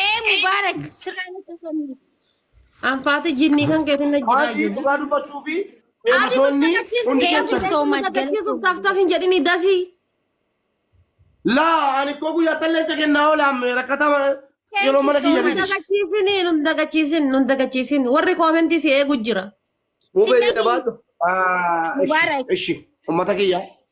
Ee Mubaarak sirraa na cufamne. Anfaati jinnii kan keetiin na jiraa Maatii ijoollee. dhugaa dubbachuu fi feemasoonni hundi Thank you keessan. so much. Dagachiisuuf taftaaf hin jedhini dafii. Laa ani koo guyyaa tallee ca kennaa oolaan rakkatama yeroo mana kiyya Nun bite. dagachiisin nun dagachiisin nun dagachiisin warri koomentii si eegu jira. Mubee jedha baatu. Mubaarak. Ishi ummata kiyya.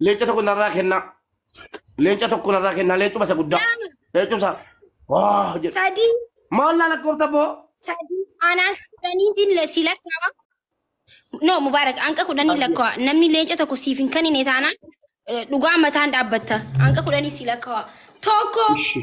Leenca tokko narraa kennaa. Leenca tokko narraa kennaa. Leencuma isa guddaa. Lama. Leencuma isa. Waa jedhe. Sadii. Maal naa lakkoofta boo? Sadii. Anaan kudhaniitiin le- si lakkaa'ama. No, Mubaarak, anqa kudhanii lakkaa'a. Namni leenca tokko siif hin kennine taanaan eh, dhugaa mataan dhaabbatta. Anqa kudhanii si lakkaa'a. Tokko, Ishi.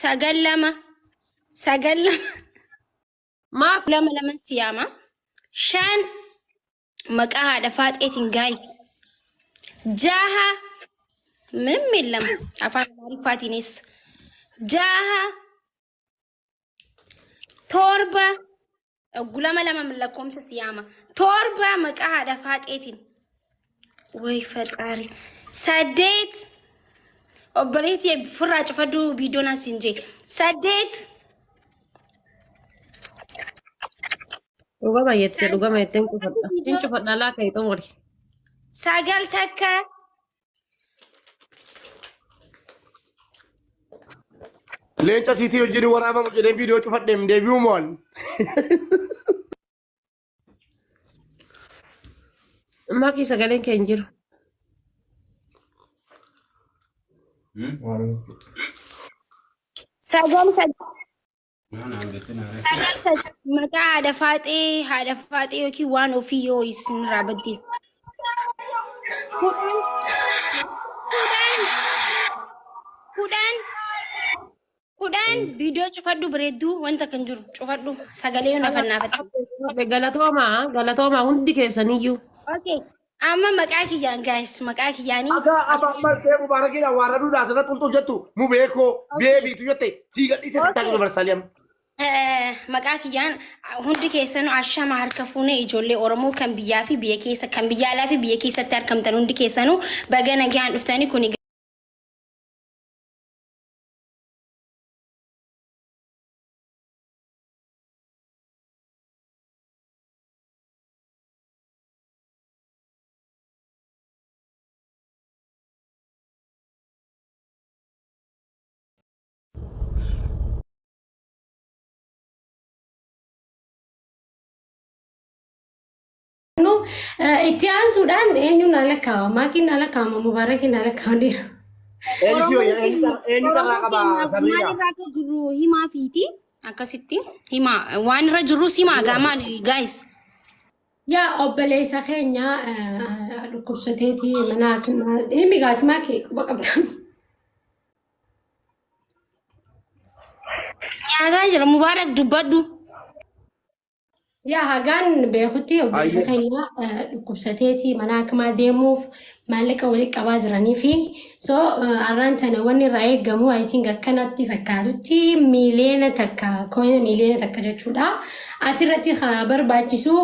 Sagal lama. Sagal lama. Maa lama laman siyaama. Shan maqaa haadha faaxeetiin gaayis. Jaha min min lama afaan amaariffaatiinis. Jaha torba Gulama lama lakkoomsa siyaama. Torba maqaa haadha faaxeetiin. Way faxaari. Saddeet. Obboleetti firraa cufadhu biidoon as hin jee. Saddeet. Dhugama jettee dhugama jetteen cufadha. Hin cufadha laa ka'e xumuri. Sagal takka. Leenca siitii wajjin waraabamu jedhee viidiyoo cufadheem deebi'uu mo'an. Ammaa kee sagaleen kee hin jiru. Sagal Sagal sagal maqaa haadha faaxee haadha faaxee yookiin waan ofii yoo isinirraa badde. Kudhan kudhan kudhan kudhan viidiyoo cufadhu bareedduu wanta kan jiru cufadhu sagalee yoo nafannaafatti. Galatoomaa galatoomaa hundi keessaniyyuu. Okay. Amma maqaa kiyyaan guys maqaa kiyyaanii. Akaa aba martee mubaarakidha waa raduu dhaa sana qulxuu jettu mubeekoo Okay. beebiitu jette sii gadhiise Okay. tattaaquu dabarsaalee amma. Eh, maqaa kiyyaan hundi keessanuu ashama harka fuunee ijoollee Oromoo kan biyyaa fi biyya keessa kan biyya alaa fi biyya keessatti argamtan hundi keessanuu baga nagaan dhuftanii kun Itti aansuudhaan eenyuun haala kaawama? Maakiin haala kaawama? Mubaarakiin haala kaawama? Elfio eenyu carraa qaba Sabriina? Maalirraa akka jirru himaa fiiti akkasitti himaa waan irra jirrus himaa gaamaan gaayis. Yaa obboleessa keenya dhukkubsateeti mana hakimaa himi gaatimaa kee quba qabdan. Nyaataa jira Mubaarak dubbadhu. Yaa hagaan beekutti obboleessa Ayyo. keenya dhukkubsateeti mana hakimaa deemuuf maallaqa walitti qabaa jiranii fi so arraan tana wanni irraa eegamu I think akkanatti fakkaatutti miiliyoona takka kooyina miiliyoona takka jechuudha. Asirratti haa barbaachisu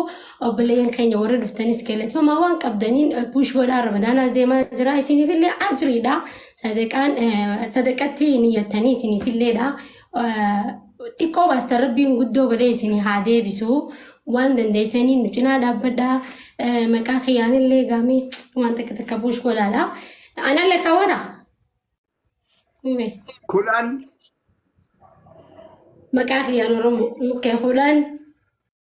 obboleeyyan keenya warri dhuftanis galatooma waan qabdaniin puush godhaa ramadaanaas deemaa jira isiniifillee ajriidha sadaqaan sadaqatti niyyattanii isiniifilleedha. xiqqoo baastan rabbiin guddoo godhee isin haa deebisu waan dandeessanii nu cinaa dhaabbadhaa Eh, maqaa kiyyaanillee gaamee waan takka takka buush godhaadha anallee kaawwata Hime. Kudhan maqaa kiyyaan oromoo mukkee fuudhaan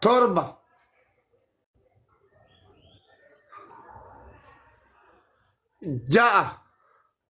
torba ja'a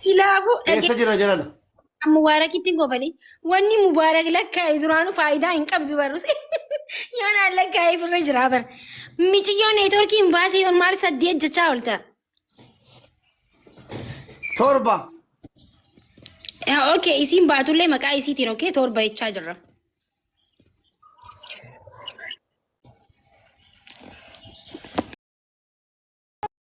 Silaafuu Eessa dhagee jira jarana? mubaarakitti hin kofali. Wanni mubaarak lakkaa'e duraanuu faayidaa hin qabdu barrus. Yoonaan lakkaa'eef irra jira bar. Miciyyoo neetworkii hin baasee yoon maal saddeet jechaa oolta. Torba. Ok isiin baatullee maqaa isiitiin ok torba jechaa jirra.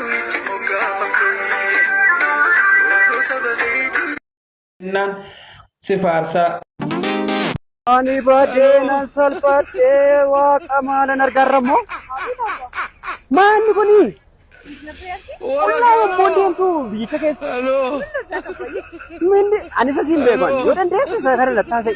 Itti moggaafamte Obbo saba keetii. Kennaan si faarsaa. Ani badee nan salphadhee waaqa maalan argaarra immoo. Maanni kuni? Qullaa yommuu deemtu biyyicha keessa. Minni ani isa siin beekan yoo dandeesse isa kana lattaasee.